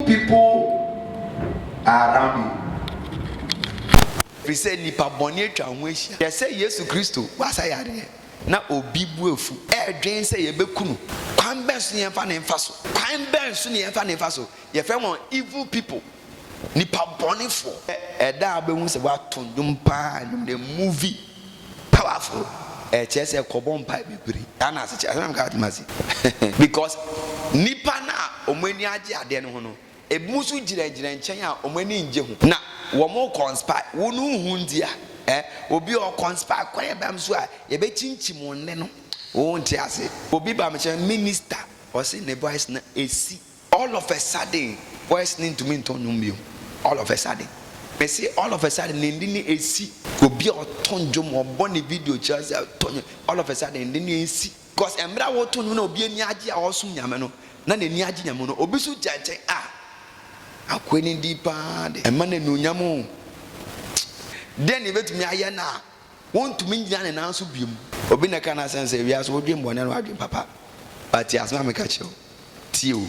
People are around you. Ɛfiri sɛ nnipa bɔne atwa wo ho ahyia. Hwɛ sɛ Yesu Kristo wasa yareɛ na obi bo afu. Ɛredwen sɛ yɛbɛku no. Kwan bɛn so na yɛmfa no mfa so? Kwan bɛn so na yɛmfa no mfa so? Yɛfrɛ wɔn evil people, nnipa bɔnefoɔ. Ɛda a wobɛhu sɛ wɔato nnwom paa, nnwom ne movie. Powerful, ɛkyerɛ sɛ kɔbɔ mpae bebree saa na ase kyerɛ, saa na meka atem ase because nnipa no a wɔn ani agye adeɛ no ho no, ebinom nso gyinagyina nkyɛn a wɔn ani ngye ho na wɔn conspire, wo no nhu nti a eh, obi ɔ conspire kwan a ɛbam so a yɛbɛkyinkyim wo nne no, wo nte ase. Obi ba me nkyɛn, Minister, ɔse ne voice no ɛsi. All of a sudden voice no ntumi ntɔ nnwom bio all of a sudden mese all of a sudden ne nne no ɛsi obi a ɔtɔ nnwom ɔbɔ ne video kyerɛ sɛ ɔtɔ nnwom all of a sudden nne no ɛnsi cause mmerɛ a wɔtɔ nnwom na obi ani agye a ɔresom nyame no na n'ani agye nyame no obi so gyina nkyɛn a akoa no din paa de ɛma no anuonyam o deɛ ne ɛbɛtumi ayɛ no a Wontumi ngyina ne nan so biom. Obi na ɛka no asɛm sɛ wiase wodwen bɔne no adwen papa but tie asɛm a meka kyerɛ wo tie o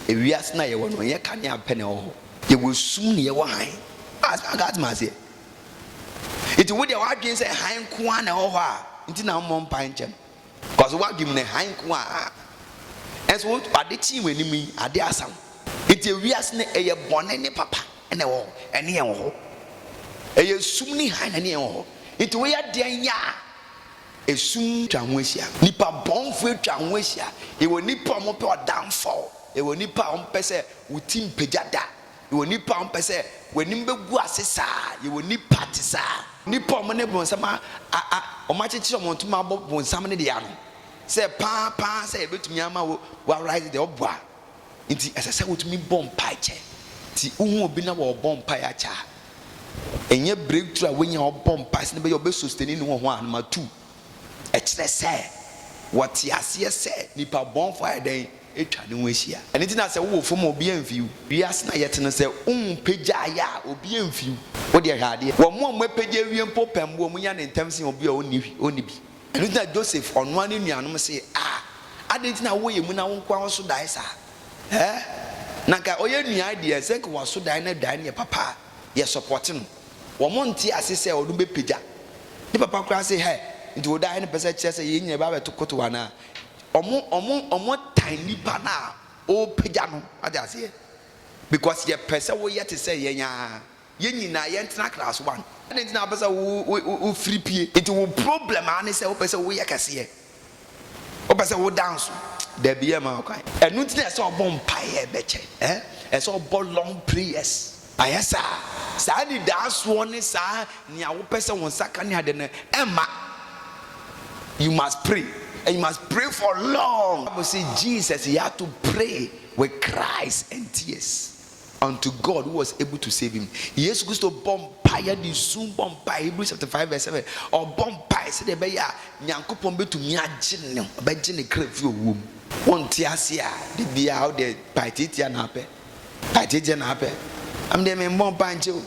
ewiase no a yɛwɔ no nyɛ kanea pɛ na ɛwɔ hɔ yɛwɔ sum na yɛwɔ hann wate maseɛ nti wodeɛ wadwen sɛ hann nko ara na ɛwɔ hɔ a nti na wommɔ mpae nkyɛ no Cause w'adwen mu no hann nko ara. Nanso wo ade kyee w'anim yi, ade asa wo. Enti ewiase no ɛyɛ bɔne ne papa na ɛwɔ hɔ, ɛne yɛn wɔ hɔ. Ɛyɛ sum ne hann na ɛne yɛn wɔ hɔ. Enti woyɛ dɛn yɛ a, esum twa ho ahyia. Nnipa bɔnefo atwa ho ahyia. Yɛwɔ nnipa a wɔpɛ ɔdamfɔw. Yɛwɔ nnipa a wɔpɛ sɛ wo ti mpagya da. Yɛwɔ nnipa a wɔpɛ sɛ wɔn anim bɛgu ase saa. Yɛwɔ nnipa te saa. Nnipa a wɔn ne bonsam a, a, a, wɔakyekyere wɔn ntoma abɔ bonsam no deɛ ano sɛ paa, paa sɛ yɛbɛtumi ama wo, woarise deɛ ɔbɔ a. Nti ɛsɛ sɛ wotumi bɔ mpae kyɛ. Nti wohu obi na wɔrebɔ mpae akyɛ a, ɛnyɛ breakthrough a wanya a ɔbɔ mpae sɛdeɛ ɛbɛyɛ a ɔbɛ sustain ne ho ho a, number two, ɛkyerɛ sɛ wɔte aseɛ sɛ nnipa bɔnfoɔ ayɛ dɛn? atwa ne ho ahyia. Ɛno nti na sɛ wowɔ fam a obi amfi wo. Wiase no a yɛte no sɛ wohu pagya a ayɛ a obi amfi wo. Wo deɛ hwɛ adeɛ. Wɔn a wɔapagya awie mpo pɛ mmoa wɔn nya no ntɛm sen obi a ɔnni hwi, ɔnni bi. Ɛno nti na Joseph ɔnoa ne nuanom se, A! Adɛn nti na wowɔ emu na wo nkoa wo so dae saa? Ɛ? Na nka ɔyɛ nuae deɛ ɛnsɛ nka waso dae na dae no yɛ papa a, yɛ sɔpɔte no. Wɔn nte ase sɛ ɔno bɛpagya. Ne papa koraa se, Hɛ! Nti wo dae no pɛ sɛ ɛkyerɛ sɛ yɛn nyinaa bɛba abɛto kotow anaa? Wɔn tan nnipa no a ɔrepagya no, wate aseɛ, because yɛpɛ sɛ woyɛ te sɛ yɛn ara, yɛn nyinaa yɛntena class one, adɛn nti na wopɛ sɛ wo firi pie, nti wo problem ara ne sɛ wopɛ sɛ woyɛ kɛseɛ, wopɛ sɛ wo danso, dabi yɛmma wo kwan. Ɛno nti na ɛsɛ sɛ ɔbɔ mpaeɛ bɛkyɛ, ɛsɛ sɛ ɔbɔ long prayers. Ayasa, saa anidaasoɔ ne saa nea wopɛ sɛ wo nsa ka ne ade no ɛmma. You must pray and you must pray for long. Bible say Jesus he had to pray with cries and tears unto God who was able to save him. Yesu Kristo bɔ mpaeɛ de su bɔ mpaeɛ Hebrews chapter five verse seven ɔbɔ mpaeɛ sɛdeɛ ɛbɛyɛ a Nyankopɔn bɛtumi agye no ɔbɛgye ne kra firi owuo mu. Wonte aseɛ a da biara wode mpaeɛ tiatia na apɛ. Agye gye na apɛ. Ɛm deɛ me mmɔ mpae nkyɛ o.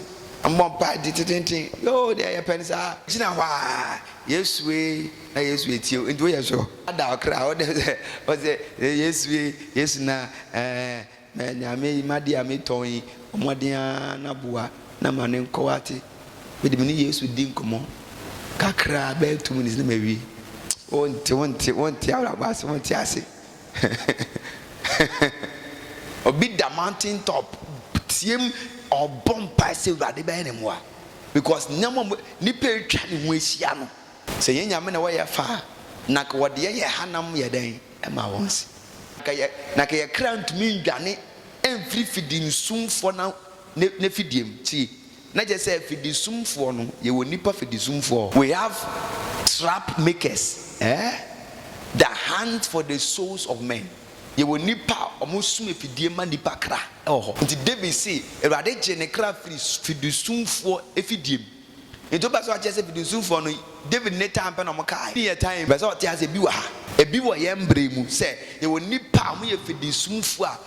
Mmɔ mpae de tetenten. Yoo deɛ yɛ pɛ no saa. Gyina hɔ aa Yesu ee na Yesu etie o. Nti wo yɛ sure? Ada ɔkra wo dɛ sɛ ɔsɛ Yesu ee Yesu na ɛɛ mɛ nea me yi ma de a me tɔn yi mmɔden aa na boa na ma ne nkɔ wate. Me de me ne Yesu di nkɔmɔ kakra bɛyɛ two minutes na ma wie. Wo nte wo nte wo nte abrabɔ ase wo nte ase. Obi da mountain top team ɔbɔ mpae sɛ Awurade bɛyɛ ne mmoa because nneɛma mu nipa atwa ne ho ahyia no sɛ yɛn nyame na wɔyɛ fa a na nka wɔde yɛn yɛ hanam yɛ dɛn ɛma wɔn se nka yɛ na nka yɛ kra ntumi ndwane mfiri fidimsumfoɔ na ne fidiem tie Na kyerɛ sɛ fidisumfoɔ no, yɛwɔ nnipa fidisumfoɔ. We have trap makers eh, that hunt for the souls of men. Yɛwɔ nnipa a wɔsum afidie ma nnipa kra wɔ hɔ. Nti David se, Awurade gyee ne kra firi fidisumfoɔ afidie mu. Nti wopɛ sɛ ɔkyerɛ sɛ fidisumfoɔ no, David ne taa mpɛ na wɔkae ne yɛtaa yi? Mepɛ sɛ ɔte aseɛ, bi wɔ ha, ebi wɔ yɛn mberɛ yi mu, sɛ yɛwɔ nnipa a wɔyɛ fidisumfoɔ a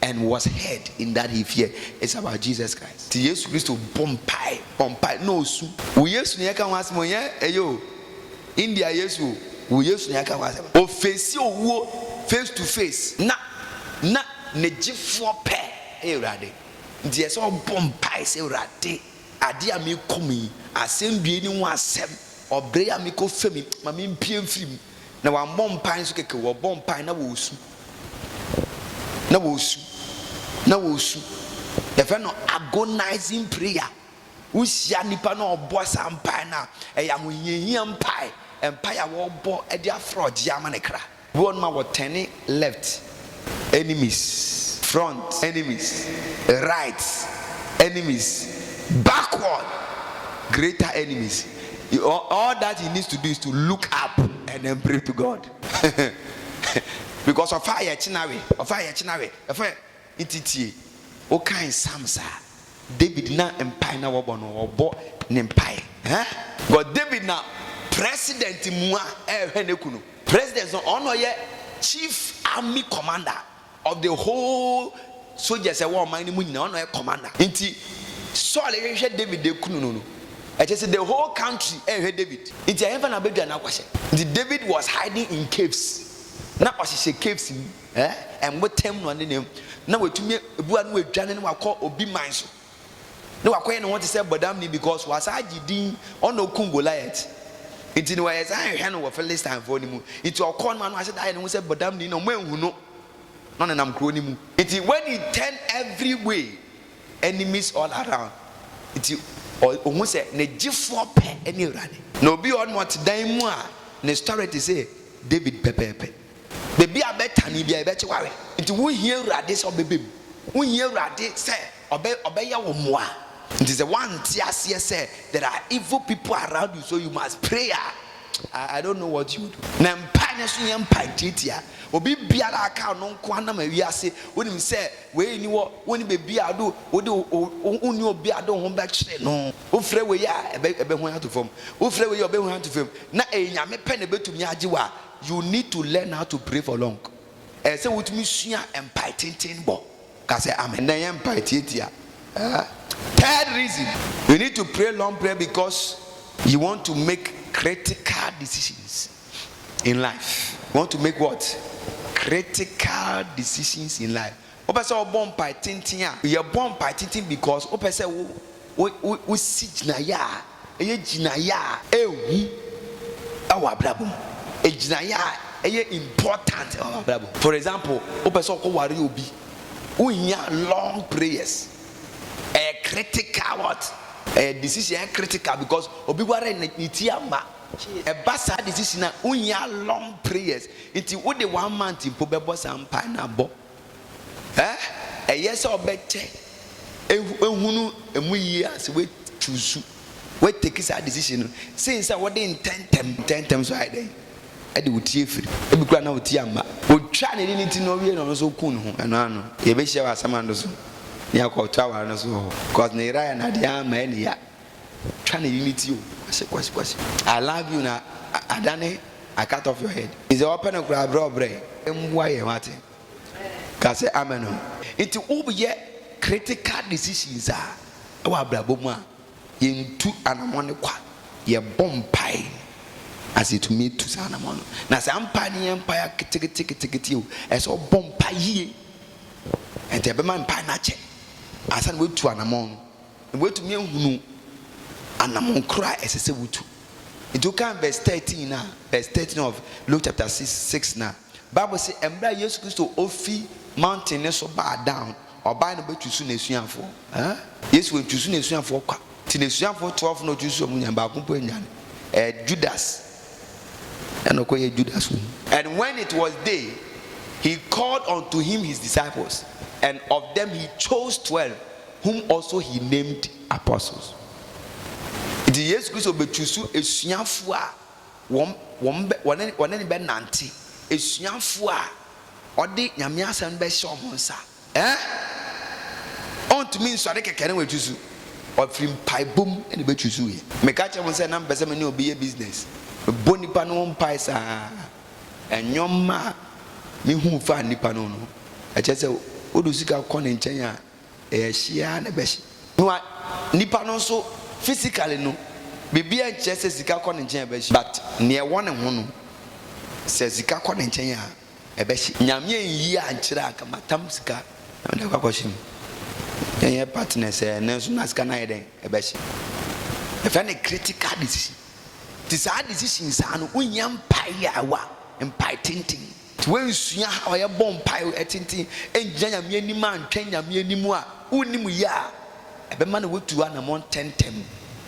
And was heard in that he fear is about Jesus Christ. Nti Yesu Kristo bɔ mpae, bɔ mpae na ɔsu. Wo Yesu na yɛka ho asɛm o, ɛnyɛ ɛyɛ o, India Yesu o, wo Yesu na yɛka ho asɛm. Ɔfeesi owuo face to face na na ne gyefoɔ pɛ yɛ Awurade. Nti ɛsɛ ɔbɔ mpae sɛ, Awurade, adeɛ a merekɔ mu yi, asɛndua yi ne ho asɛm, ɔbrɛ yi a merekɔ fa mu yi, ma mempue mfiri mu. Na wɔammɔ mpae nso kɛkɛ o, wɔbɔ mpae na wɔresu, na wɔresu, na wɔresu. Yɛfrɛ no agonizing prayer. Wohyia nnipa na ɔbɔ saa mpae no a, ɛyɛ ahohiahia mpae, mpae a wɔbɔ de afrɛ ɔgyeɛ ama ne kra. Bi wɔ hɔnom a wɔtɛne left. enemies, front enemies, right enemies, backward greater enemies, all that he needs to do is to look up and then pray to God because ɔfa yɛ kyena we ɔfa yɛ kyena we ɛfɛ nti tie wokan psalms a David na mpae na wɔbɔ no wɔbɔ ne mpae eh because David na president mu a ɛhwɛ ne kunu. President no ɔno na ɔyɛ chief army commander of the whole soldiers ɛwɔ ɔman no mu nyinaa ɔno na ɔyɛ commander nti Saul hwehwɛ David de kunu no no ɛkyɛ sɛ the whole country ɛhwɛ David nti ɛhɛnfa na abɛdwa n'aguahyɛ nti David was hiding in caves na ɔhyehyɛ caves mu ɛɛ ɛnbotam na ɔne ne na watumi ebu ano adwane na wakɔ obi man so. na wakɔyɛ ne ho te sɛ bɔdamni because wasan agye din ɔna okum Goliath nti no yɛsan hwehwɛ no wɔ Philistinefoɔ no mu nti ɔkɔ no ano ase da ayɛ ne ho sɛ bɔdamni na ɔmo anhu no na ɔnenam kuro no mu nti when he turn every way enemies all around nti ɔhu sɛ ne gyefoɔ pɛ ne Awurade. Na obi wɔ hɔ nom ɔte dan mu a ne story te sɛ David pɛpɛɛpɛ. Baabi a bɛtane biara yɛbɛkye ware. Nti wohia Awurade sɛ ɔbɛba mu. Wohia Awurade sɛ ɔbɛ ɔbɛyɛ wo mmoa. Nti sɛ woante aseɛ sɛ there are evil people around you so you must pray a, I, I don't know what you do. Na mpae no nso nyɛ mpae tiatia. Obi biara a aka ɔno nko ara nam awiase. Wonim sɛ wei nni hɔ, wonni baabi a wode wode wo wo wonni obi a wode wo ho bɛkyere no. Wofrɛ wei a ɛbɛ ɛbɛhuan ato fam. Wofrɛ wei a ɔbɛhuan ato fam. Na ɛyɛ Nyame pɛ na ɛbɛtumi agye wo a, You need to learn how to pray for long Ɛsɛ sɛ wotumi sua mpae tenten bɔ. Ka sɛ, Amen. Na ɛnyɛ mpae tiatia. Third reason, You need to pray long prayer because you want to make critical decisions in life. You want to make what? Critical decisions in life. Wopɛ sɛ wɔbɔ mpae tenten a, yɛbɔ mpae tenten because wopɛ sɛ wo wo wo wosi gyinaeɛ a ɛyɛ gyinaeɛ a ɛhu wɔ w'abrabɔ mu, gyinaeɛ a ɛyɛ important wɔ w'abrabɔ mu. For example, wopɛ sɛ wokɔ ware obi, wohia long prayers, ɛyɛ critical what? Ɛyɛ decision a ɛyɛ critical because obi ware no ne ti amma. Ɛba saa de sisi no a, wonhia long prayers. Nti wode one month mpo bɛbɔ saa mpae no abɔ. Eh, ɛyɛ sɛ wobɛkyɛ ahunu ɛmu yie a sɛ woachuusu, woatake saa decision no, sen sɛ wode ntɛntɛm. Ntɛntɛm nso ayɛ dɛn de wo ti afiri. Ebi koraa na wo ti amma. Otwaa n'ani ne ti na owiei na ɔno nso okuu ne ho. Ɛno ara no, yɛbɛhyia wɔ Asamando so na yɛakɔto aware no so wɔ hɔ. Cos ne yera yɛ no adeɛ ara ma ɛyɛ ne ya. Twa ne yini ti o. Ɔse Kwasi Kwasi I love you na adane I cut off your head. Sɛ ɔpɛ no koraa brɛ ɔbrɛ. Mmoa yɛn wate? Ka sɛ amen o. Nti woyɛ critical decisions a ɛwɔ abrabɔ mu a, yɛntu anamɔn no kwa. Yɛbɔ mpae na sɛ yɛtumi tu saa anamɔn no. Na saa mpae no nyɛ mpae aketekete ketekete o, ɛsɛ sɛ wobɔ mpae yie. Ɛnti ɛbɛma mpae no akyɛ ansa na woatu anamɔn no. na woatumi ahunu anammɔn korɔ a ɛsɛ sɛ wotu. Nti wokan vɛs 13 no a, vɛs 13 of Luke chapter 6 6 no a, Bible se mberɛ a Yesu Kristo ofi mountain no so baa down, ɔbae no bɛtusu N'asuafoɔ. Huh? Yesu antusu N'asuafoɔ kwa. Nti N'asuafoɔ 12 no ɔtusu wɔn nyinaa, baako mpo annwane. Ɛɛ Judas ɛna ɔkɔyɛɛ Judas wɔ mu. And when it was day, He called unto Him His disciples, and of them He chose twelve, whom also he named apostles. Nti Yesu Kristo bɛ chusu asuafoɔ a wɔn, wɔn bɛ, wɔne, wɔne ne bɛ nante, asuafoɔ a ɔde Nyame asɛm no bɛhyɛ wɔn nsa. Ɛɛ? Ɔntumi nsɔre kɛkɛ na wachusu. Ɔfiri mpaebɔ mu na bɛ chusuiɛ. Meka kyerɛ mo sɛ na mepɛ sɛ me ne obi yɛ business. Mebɔ nnipa no ho mpae saa ara. Nnoɔma a mehunu faa nnipa no ho no, ɛkyerɛ sɛ wode wo sika kɔ ne nkyɛn a, Ɛyɛ hye ara na ɛbɛhye. No a nipa no nso physically no biribiara nkyerɛ sɛ sika kɔ ne nkyɛn a ɛbɛhye but nea ɛwɔ ne ho no sɛ sika kɔ ne nkyɛn a ɛbɛhye. Nyame anyi ankyerɛ anka matam sika na mede akɔ akɔhye mu. Ɛnyɛ partners ɛ ɛnɛ nso na sika no ayɛ dɛn ɛbɛhye. Yɛfrɛ no critical decision. Nti saa decision saa no wohia mpaeɛ a ɛwɔ a mpae tenten. Woansua how a yɛbɔ mpae, ɛtenten, ngyina Nyame anim a ntwɛn Nyame anim a, wonnim yɛ a ɛbɛma na wotu anamɔn ntɛntɛm.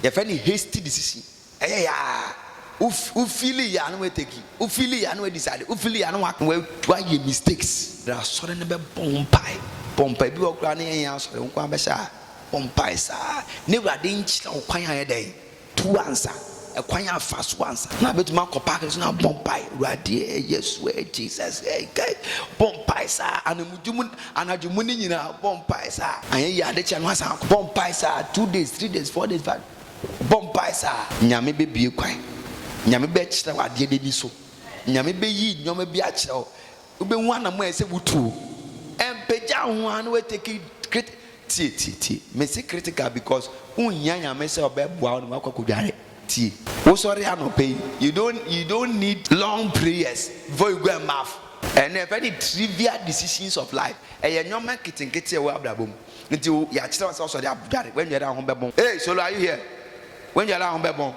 Yɛfrɛ no hasty decision. Ɛyɛ yɛ a, wo wo feeli yɛ a na woatake, wo feeli yɛ a na woadecide, wo feeli yɛ a na woa woa woayɛ mistakes. Bra asɔre no bɛbɔ wo mpae, bɔ mpae. Bi wɔ hɔ koraa a na yɛnyɛ asɔre, wo nko ara bɛhyɛ a bɔ mpae saa na Awurade nkyerɛ wo kwan a ɛyɛ dɛn? Tu ansa, ɛkwan a fa so ansa na abɛtumi akɔ park no so na bɔ mpae, Awurade eh, Yesu eh, Jesus eh, kai, bɔ mpae saa, anamudi mu, anadwo mu ne nyinaa, bɔ mpae saa, anyɛ yie adekyɛ no asan akɔ, bɔ mpae saa, two days, three days, four days, five, bɔ mpae saa, Nyame bɛbue kwan, Nyame bɛkyerɛ wo adeɛ no ani so, Nyame bɛyi nneɛma bi akyerɛ wo, Wobɛhu anamɔ a ɛsɛ sɛ wotuo. Ɛmpagya wo ho ara na woatake krit. Tie, tie, tie. Mese critical because wonhia Nyame sɛ ɔbɛboa wo na woakɔ akɔdware. Tie. Wosɔre anɔpa yi, you don't, you don't need long prayers before you go and bath. Ɛno yɛfrɛ no trivial decisions of life. Ɛyɛ nnoɔma nketenkete a ɛwɔ abrabɔ mu. Nti wo, yɛakyerɛ wo sɛ wosɔre adware. Woannware a wo ho bɛbɔn. Hey, Solo, are you here? Woannware a wo ho bɛbɔn.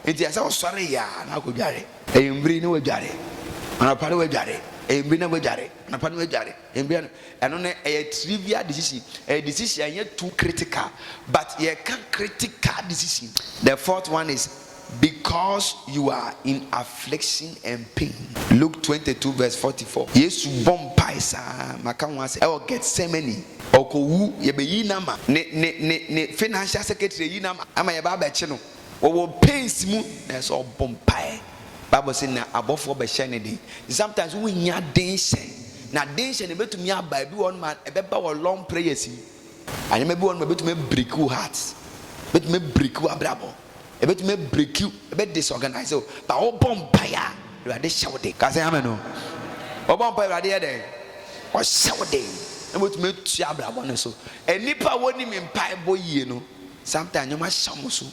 Enti ɛsɛ sɛ ɔsɔre yɛ ara na ɔkɔdware anwummere na wadware, anɔpa na wadware, anwummere na wadware, anɔpa na wadware, anwummere na Ɛno no, ɛyɛ trivial decision. Ɛyɛ decision a ɛnyɛ too critical. But yɛka critical decision. The fourth one is because you are in affliction and pain. Luke twenty two verse forty four. Yesu bɔ mpae saa ara, maka ho asɛm, wɔ Gethsemane. Ɔrekɔwu, yɛbɛyi no ama, ne, ne, ne, ne financial secretary ayi no ama, ama yɛaba abɛkye no. Ɔwɔ pains mu nanso ɔbɔ mpaeɛ. Bible se na abɔfoɔ bɛhyɛ no den. Nti sometimes wohia denhyɛ. Na denhyɛ no ɛbɛtumi aba, ebi wɔ hɔ nom a ɛbɛba wɔ long prayers mu. Nneɛma bi wɔ hɔ nom a ɛbɛtumi abreaki wo heart. Ɛbɛtumi abreaki w'abrabɔ. Ɛbɛtumi abreaki wo, ɛbɛ disorganise wo. But wobɔ mpaeɛ a, Awurade hyɛ wo den. Ka sɛ amen o. Wobɔ mpaeɛ a, Awurade yɛ dɛn? Ɔhyɛ wo den. Na watumi atua abrabɔ no so. Nnipa a wɔnim mpaebɔ yie no. Sometimes nneɛma ahyɛ wɔn so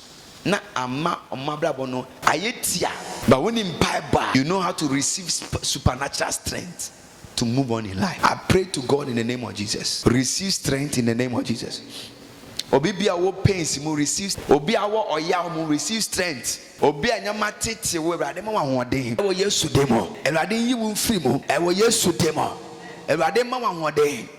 na ama wɔn abrabɔ no ayɛ tia. But wo nim mpaebɔ a, you know how to receive supernatural strength to move on in life. I pray to God in the name of Jesus receive strength in the name of Jesus. Obi bi a ɔwɔ pains mu receive, obi a ɔwɔ ɔyaw mu receive strength, obi a nneɛma tete wo Awurade ma wo ahoɔden wɔ Yesu din mu, Awurade nyi wo mfiri mu wɔ Yesu din mu, Awurade ma wo ahoɔden.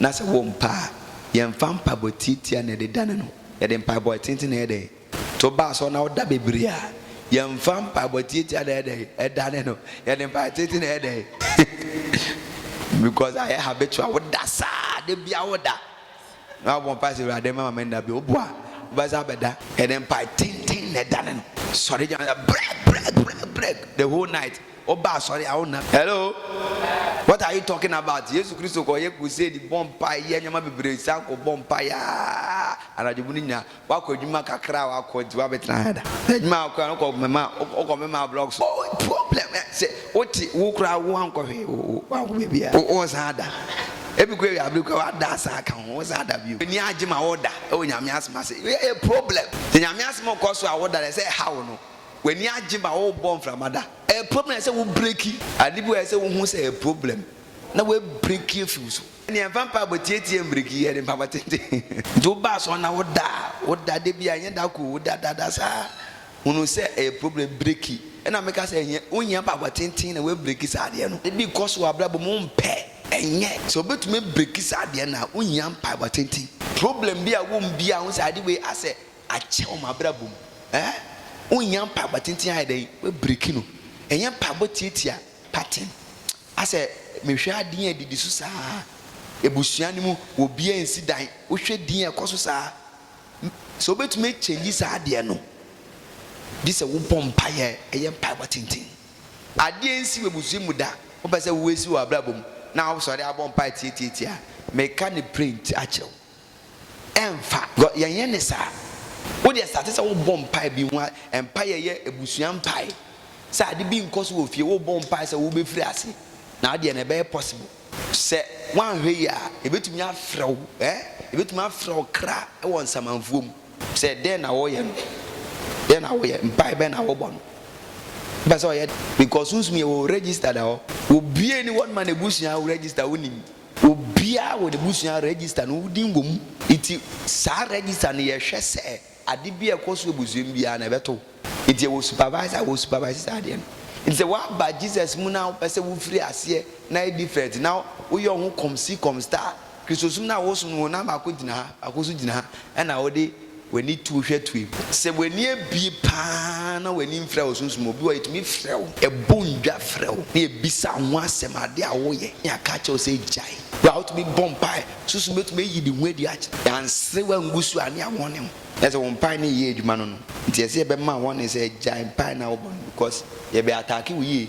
Na sɛ wɔmpa a, yɛmfa mpaebɔ tiatia na yɛde dane no. Yɛde mpaebɔ atenten na ɛyɛ dɛn? Sɛ woba asɔre na woda bebree a, yɛmfa mpaebɔ tiatia na ɛyɛ dɛn? Ɛdane no. Yɛde mpaebɔ atenten na ɛyɛ dɛn? Because ayɛ habitual, woda saa, da biara woda. Na wabɔ mpae sɛ, Awurade, mma me nna bio. Wopo a, wobɛsan abɛda. Yɛde mpae tenten na ɛdane no. Sɔre gyina hɔ sɛ, Brɛg! Brɛg! Brɛg! Brɛg! The whole night. Wo ba asɔre a wo na. Hello what are you talking about Yesu Kristo kɔ yɛ crusade bɔ mpae yɛ nneɛma bebree san kɔ bɔ mpae aa anadwo mu no nyina wakɔ adwuma kakra a wakɔ nti wabɛtena ha da adwuma a wakɔ a no kɔ mɛma wokɔ mɛma blog so oh problem eh, sɛ wote wo koraa wo ankɔ hwee wo wo wankɔ baabi a wo wo san da ebi kɔ awia abere kɔ wada asan aka ho wo san da bio ani agye ma woda ɛwɔ nyame asem ase yɛ problem sɛ nyame asem kɔ so a woda dɛ sɛ ɛha wo no. W'ani agye ma worebɔ mframa da. Ɛyɛ problem a ɛsɛ sɛ wo breki. Ade bi wɔ hɔ a ɛsɛ sɛ wohu sɛ ɛyɛ problem na woabreki afi wo so. Ɛnneɛ mfa mpaebɔ tietie mbreki, yɛ ne mpaebɔ tenten. Nti wo ba asɔre na wo da a, wo da da biara, ɛnyɛ da koro, wo da da da saa. Hunu sɛ ɛyɛ problem, breki. Ɛna me ka sɛ ɛhia, wo hia mpaebɔ tenten na woabreki saa adeɛ no. Ebi kɔ so wɔ abrabɔ mu, wo mpɛ, ɛnyɛ. Sɛ wobɛtumi abreki saa adeɛ no a, wo hia mpaebɔ tenten. Problem bi a ɛwɔ mu biara, hu sɛ ade wei asɛ. Akyɛ wɔ m'abrabɔ mu eh. Wonnya mpaebɔ tenten ayɛ dɛn w'abiriki no Ɛnyɛ mpaebɔ tiatia paten Asɛ mehwɛ adeɛ a ɛdidi so saa Abusua no mu obiara ansi dan Wohwɛ din a ɛkɔ so saa Sɛ wobɛtumi akyɛngyi saa adeɛ no Gye sɛ wobɔ mpaeɛ yɛ mpaebɔ tenten Adeɛ ansi w'abusua mu da wopɛ sɛ woasi wɔ w'abrabɔ mu Na wosɔre abɔ mpaeɛ tiatiatia Meka no print akyerɛ wo. ɛmfa. Because yɛn yɛ ne saa. Wo deɛ starte sɛ wo bɔ mpae bi ho a, mpae yɛ yɛ abusua mpae. Sɛ ade bi nkɔ so wɔ fie, wo bɔ mpae sɛ wo bɛ firi ase. Na adeɛ no ɛbɛyɛ possible. Sɛ woanhwɛ yie a, yɛbɛtumi afrɛ wo, eh, yɛbɛtumi afrɛ wo kra wɔ nsamanfuo mu. Sɛ dɛn na wɔyɛ no? Dɛn na woyɛ? Mpae bɛn na wobɔ no? Wopɛ sɛ ɔyɛ dɛn? Because sunsum yɛ wɔ wo registered hɔ. Wɔbue ne wɔn ma n'abusua wo register, wonim. Obiara wɔ n'abusua register no wo din wɔ mu. Nti saa register no yɛhwɛ sɛ ade biara ɛkɔ so wɔ abusua mu biara no ɛbɛto wo. Nti yɛwɔ supervisor a wɔ supervise saa adeɛ no. Nti sɛ woaba Jesus mu na wopɛ sɛ wofiri aseɛ na ayɛ different na woyɛ wo ho kɔmsi kɔmsta a, Kristosom no a wosom no wo nan baako gyina ha, baako nso gyina ha ɛna wode W'ani to wo hwɛ toe mu. Sɛ w'ani abue paa na w'ani mfira wo sunsum mu, obi wɔ hɔ a etumi frɛ wo, ɛbɔ ndwa frɛ wo, na ebisa wo ho asɛm, ade a woyɛ, na aka akyerɛ wo sɛ gyae. Wo a wotumi bɔ mpae, sunsum betumi ayi ne ho adi akyerɛ wo. Anserew angu so a, ne yɛawɔn ne ho. Na sɛ wo mpae no nyɛ adwuma no no, nti ɛsɛ yɛbɛma wɔne sɛ gyae mpae no a wobɔ no because yɛbɛ ataake wo yie.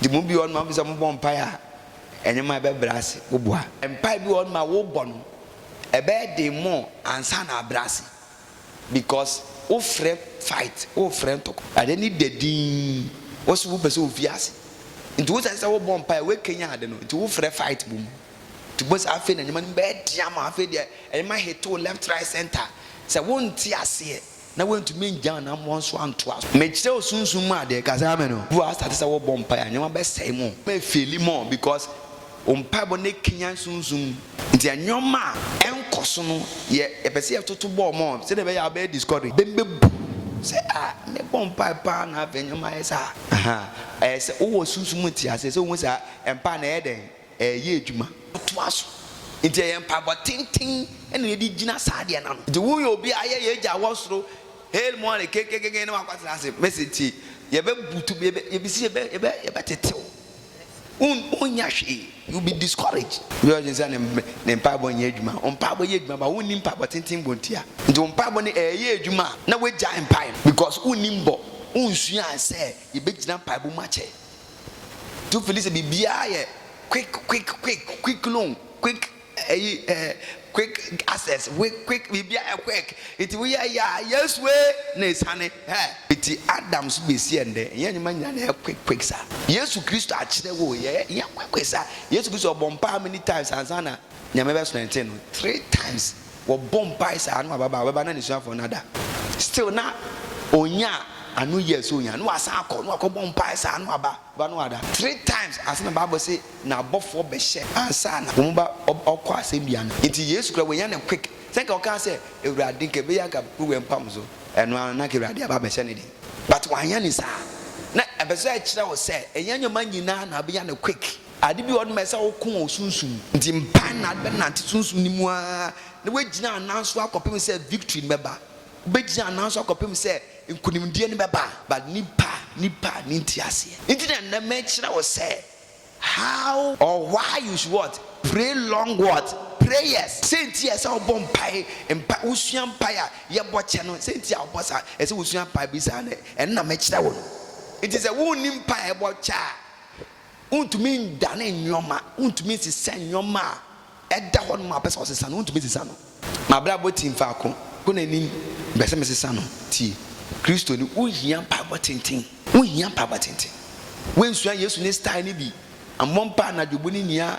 Nti mo bi wɔ hɔnom a mopɛ sɛ mobɔ mpae a, nneɛma a ɛbɛbrɛ ase, woboa. Mpae bi wɔ hɔnom a wobɔ no, ɛbɛyɛ den more ansa na abrɛ ase because wo frɛ fight wo frɛ ntɔkwa. Ade no da dinn wo so wo pɛ sɛ ofi ase nti wo sɛ sɛ wo bɔ mpaeɛ wo kanyan ade no nti wo frɛ fight bom nti wobɛhu sɛ afei na nneɛma no bɛyɛ den ama wo afei deɛ nneɛma hit wo left right center sɛ wo nte aseɛ na wantumi angyan anammɔn so antoa so. Mekyerɛ wo sunsum mu adeɛ, ka sɛ amen o. Bi wɔ ha asate sɛ wobɔ mpaeɛ a nneɛma bɛsɛe mo, mo bɛ feeli more because wo mpaebɔ no ɛkanyan sunsum mu nti nneɛma a ɛnkɔ so no yɛ yɛpɛ sɛ yɛtoto bɔɔ more sɛdeɛ ɛbɛyɛ a wobɛyɛ discourage, bɛ bɛbu sɛ ah mebɔ mpaeɛ paa na afei nneɛma ayɛ saa, ahaa ɛyɛ sɛ wowɔ sunsum mu nteaseɛ sɛ wohu saa mpaeɛ no ɛyɛ dɛn. Ɛreyɛ adwuma. Toa so. Enti ɛyɛ mpaebɔ tenten na yɛde gyina saa adeɛ no ano. Enti woyɛ obi a ayɛ yɛn Agya a ɔwɔ soro, Hail Mary, kenkekeke na wakɔtena ase. Mese tie, yɛbɛbutu, yɛbɛsi, yɛbɛtete wo. Wonnya hwee. You will be discouraged. Obi a ɔdwene sɛ ne mpaebɔ renyɛ adwuma, wo mpaebɔ yɛ adwuma but wonni mpaebɔ tenten bɔ ntia. Enti wo mpaebɔ no ɛreyɛ adwuma a, na woagyae mpae no because wonni bɔ, wonsuaa sɛ yɛbɛgyina mpaebɔ mu akyɛ to fili sɛ biribiara yɛ quick quick quick quick loan quick ɛyi ɛɛ quick access quick quick biribiara yɛ quick nti woyɛ yɛ a yɛsue na esane ɛ eti adam so besi ɛndɛ yɛn nyɛma nyinaa na yɛ quick quick sa yesu kristo akyerɛ wo yɛ yɛ quick quick sa yesu kristo ɔbɔ mpaa many times ansa na nyame bɛ sɔn ɛnte no three times. wɔbɔ mpae saa na waba ba a ɔbɛba na n'asuafoɔ no ada still na ɔnya a ano yɛ sɛ ɔnya na wasan akɔ na wakɔbɔ mpae saa na waba ba na wada three times ansa na bible se na abɔfoɔ bɛhyɛ ansa na wɔn ba ɔkɔ asɛnnua no nti yesu kora wɔnya no quick sɛ nka ɔkaa sɛ awurade nka ɛbɛyɛ anka wowɛ mpam so ɛno ara na anka awurade aba abɛhyɛ ne den but wanyɛ ne saa na ɛbɛsɛ ɛkyerɛ wo sɛ ɛnyɛ nneɛma nyinaa na abɛnya no quick. Ade bi wɔ hɔ no ma ɛsɛ sɛ woko wo sunsum. Enti mpae na ade bɛnante sunsum no mu ara na woagyina anan so akɔpem sɛ victory no bɛba. Wobɛgyina anan so akɔpem sɛ nkunimdie no bɛba. But nnipa nnipa ne nteaseɛ nti na nnɛ mekyerɛ wo sɛ how or why you should what? Pray long what? Prayers. Sɛ nti a ɛsɛ sɛ wobɔ mpae, mpa wosua mpae a yɛbɔ kyɛ no, sɛ nti a wobɔ saa, ɛsɛ sɛ wosua mpae bi saa no, ɛno na mekyerɛ wo no. Enti sɛ wonni mpae a ɛbɔ kyɛ a, Wontumi ndane nnoɔma, wontumi nsesa nnoɔma a ɛda hɔ nom a wopɛ sɛ wosesa no, wontumi nsesa no. M'abrabɔ tim faako, kɔ n'anim, mpɛ sɛ mesesa no. Tie, Kristoni, wohia mpaebɔ tenten, wohia mpaebɔ tenten. Woansua Yesu ne style no bi, ammɔ mpaa anadwo bu ne nua